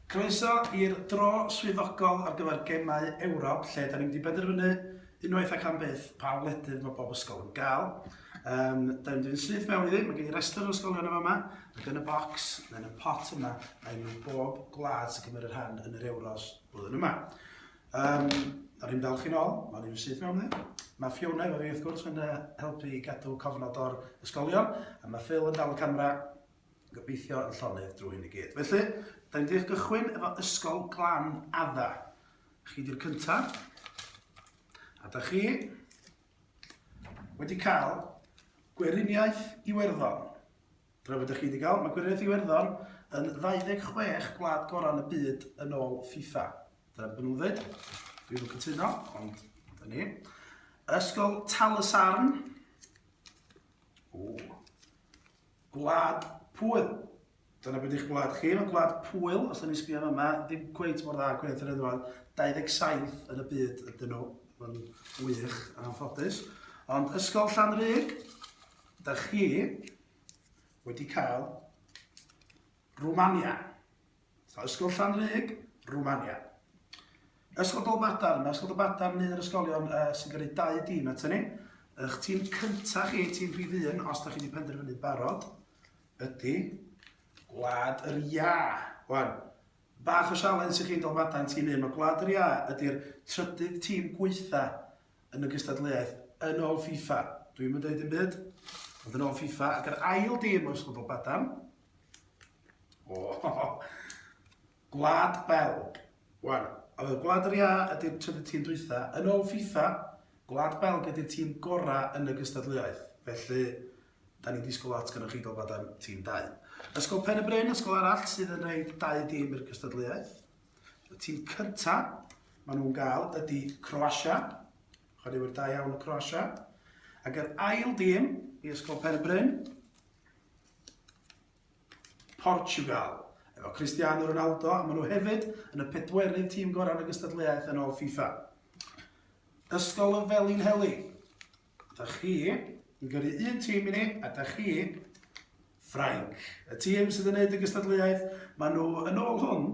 Croeso i'r dro swyddogol ar gyfer Gemau Ewrop lle dan ni'n mynd i benderfynu unwaith ac am byth pa wledydd mae bob ysgol yn gael. Um, da ni'n mynd i'n syth mewn iddi, mae gen i restr o'r ysgolion yma yma, ac yn y bocs, yn y pot yma, mae enw bob gwlad sy'n cymryd rhan yn yr Euros blwyddyn yma. Um, da ni'n dal chi'n ôl, mae ni'n syth mewn iddi. Mae Fiona efo fi wrth gwrs yn helpu i gadw cofnod o'r ysgolion, a mae Phil yn dal y camera Gobeithio yn llonydd drwy hyn i gyd. Felly, da ni'n deall gychwyn efo Ysgol Glan Adda. Chi di'r cynta. A da chi wedi cael Gweriniaeth Iwerddon. Dyna beth da chi wedi cael. Mae Gweriniaeth Iwerddon yn 26 gwlad gorau yn y byd yn ôl FIFA. Dyna beth nhw'n dweud. Dwi'n cytuno, ond da ni. Ysgol Tal y Sarn. O. Gwlad Pwyl. Dyna be di'ch gwlad chi, mae Gwlad Pwyl, os da ni'n sbio yn yma, ddim cweit mor dda ag Gwlad yr Eddwad, 27 yn y byd ydyn nhw, mae'n wych yn anffodus. Ond Ysgol Llanrug, da chi wedi cael Rwmania. Ysgol Llanrug, Rwmania. Ysgol Dolbadarn, mae Ysgol Dolbadarn un o'r ysgolion uh, sy'n gyrru dau dîm at ni. Ych tîm cyntaf chi, tîm rhif un, os da chi wedi penderfynu barod, ydy Gwlad yr Ia. Wan, bach o sialens i chi Dolbadarn tîm un, mae Gwlad yr Ia ydy'r trydydd tîm gweitha yn y gystadleuaeth yn ôl FIFA. Dwi'n mynd dweud yn byd, ond yn ôl FIFA, ac yr ail dîm o Ysgol Dolbadarn, O, Gwlad Belg. Wan, oedd y Gwlad yr Iâ ydy'r trydydd tîm dwytha. Yn ôl FIFA, Gwlad Belg ydy'r tîm gorau yn y gystadleuaeth. Felly, da ni'n disgwyl lot gyda chi gofod am tîm dau. Ysgol Pen y Bryn, ysgol arall sydd yn rhoi dau dîm i'r gystadleuaeth. Y tîm cynta, maen nhw'n gael, ydy Croasia. Chwaraewyr da iawn o Croasia. Ac yr ail dîm i Ysgol Pen y Bryn, Portiwgal, efo Cristiano Ronaldo, a maen nhw hefyd yn y pedwerydd tîm gorau yn y gystadleuaeth yn ôl FIFA. Ysgol y Felin Heli, da chi yn gyrru un tîm i ni, a da chi, Ffrainc. Y tîm sydd yn gwneud y gystadleuaeth, maen nhw yn ôl hwn,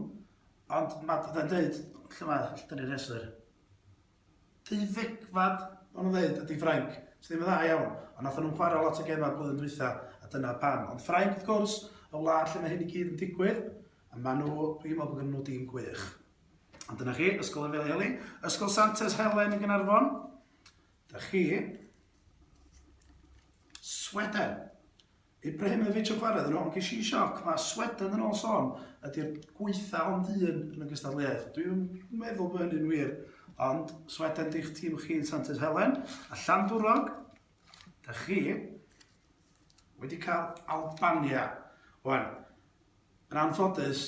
ond mae'n dweud, lle mae, lle dyn ni'n rheswr? Deuddegfad o'n nhw'n ddeud ydy Ffrainc, sydd ddim yn dda iawn, ond nathon nhw'm chwarae lot o gemau blwyddyn dwytha, a dyna pam. Ond Ffrainc wrth gwrs, y wlad lle mae hyn i gyd yn digwydd, a maen nhw, dwi'n meddwl bod gennyn nhw dîm gwych. Ond dyna chi, Ysgol Efeli Eli, Ysgol Santes Helen yn Gaernarfon. Da chi. Sweden. Ibrahimovic yn chwarae iddyn nhw, ond ges i sioc, mae Sweden yn ôl sôn ydy'r gweitha ond un yn y gystadleuaeth. Dwi'n meddwl bod hynny'n wir, ond Sweden di'ch tîm chi yn Santes Helen, a Llandwrog, da chi wedi cael Albania. Wan, yn anffodus,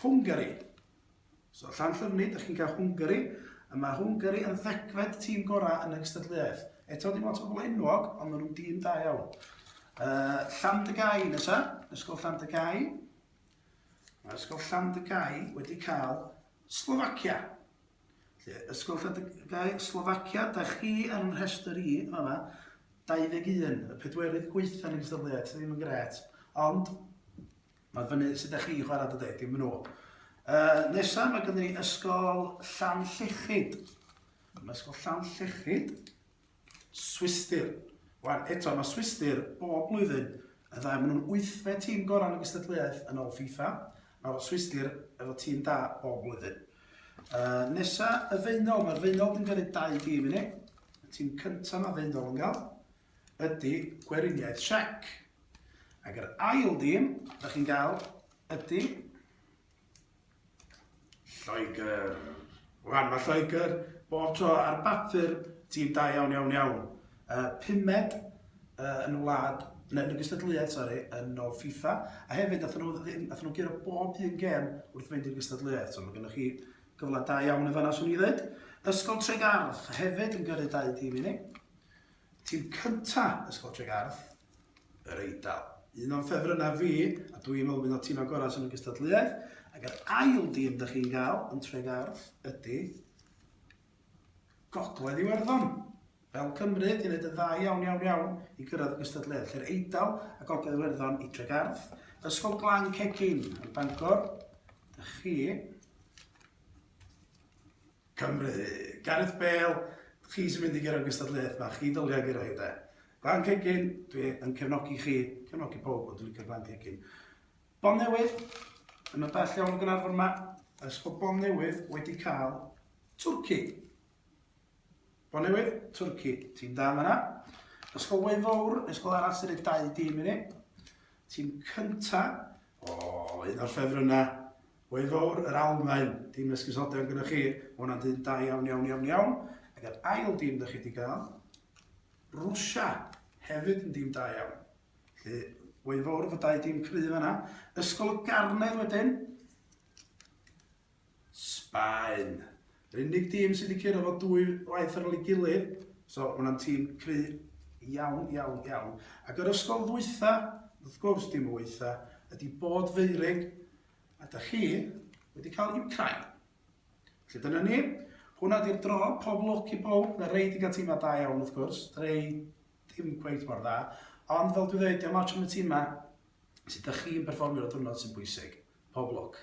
Hwngari. So, Llanllyfni, dych chi'n cael Hwngari, a mae Hwngari yn ddegfed tîm gorau yn y gystadleuaeth. Eto, dim ots o bobl enwog, ond maen nhw'n dîm da iawn. Uh, Llandygai nesa, Ysgol Llandygai. Mae Ysgol Llandygai wedi cael Slovacia. Lle, Ysgol Llandygai, Slovacia, da chi ar yn rhestr i, yma, 21, y pedwerydd gweitha yn y gystadleuaeth, ddim yn gret. Ond, Mae fyny sut ydych chi'n chwarae dy deg, dim yn ôl. Uh, nesa, mae gyda ni ysgol Llan Llechyd. Mae ysgol Llan Llechyd. Swister. Wan, eto, mae Swister bob blwyddyn y ddau. Maen nhw'n wythfed tîm gorau yn y gystadleuaeth yn ôl FIFA. Mae Swister efo tîm da bob blwyddyn. Uh, nesa, y feunol. Mae'r feunol yn gyrru dau dîm i ni. Y tîm cyntaf mae feunol yn gael. ydy Gweriniaeth Siec. Ac yr ail dîm da chi'n gael ydy Lloegr. Rwan, mae Lloegr bob tro ar bapur tîm da iawn, iawn, iawn. Uh, pumed uh, yn y wlad, neu yn y gystadleuaeth, sori, yn ôl FIFA, a hefyd nath nhw, nath nhw gyrra bob un gem wrth fynd i'r gystadleuaeth, so mae gennych chi gyfle da iawn yn fanna, swn i ddweud. Ysgol Tregarth hefyd yn gyrru dau dîm i ni. Tîm cynta Ysgol Tregarth yr Eidal. Un o'n ffefrynnau fi, a dw i'n meddwl un o'r timau gorau sydd yn y gystadleuaeth, ac yr ail dîm dych chi'n gael yn Tregarth ydy Gogledd Iwerddon, fel Cymru, di wneud yn dda iawn, iawn, iawn i gyrraedd y gystadleuaeth. Lle'r Eidal a Gogledd Iwerddon i Tregarth, Ysgol Glan Cegin yn Bangor, dych chi Cymru. Gareth Bale, chi sy'n mynd i gyrraedd gystadleuaeth fach, chi dylia gyrraedd hi de. Glan Cegin, dwi yn cefnogi chi, cefnogi pob ond dwi'n licio Glan Cegin. Bon Newydd, yn y bell iawn o Gaernarfon yma, ers bod Bon Newydd wedi cael Twrci. Bon Newydd, Twrci, tîm da yma na. Ysgol Wei Fawr, ysgol arall sy'n ei dau dîm i ni. Tîm cynta, o, un o'r ffefrynnau, Hwyl fawr yr Almaen, dim esgusoder gyda chi, ma hwnna'n dyn da iawn iawn iawn iawn, ag yr ail dîm dych chi di gael, Rwsia, hefyd yn dîm da iawn. Felly, hwyl fawr fy dau dîm cryf yna. Ysgol y Garnedd wedyn, Sbaen. Yr unig dîm sydd wedi curo fo dwy waith ar ôl ei gilydd, so ma hwnna'n tîm cry iawn, iawn, iawn. Ac yr ysgol ddwytha, wrth gwrs dim wytha, ydy Bod Feurig, Ydych chi wedi cael Ukraine? Felly dyna ni, hwnna di'r dro, pob lwc i bawb, mae rei di gael tîmau da iawn wrth gwrs, rei dim cweit mor dda, ond fel dwi ddweud, diolch mawr am y tîmau sydd ydych chi'n perfformio'r diwrnod sy'n bwysig. Pob lwc.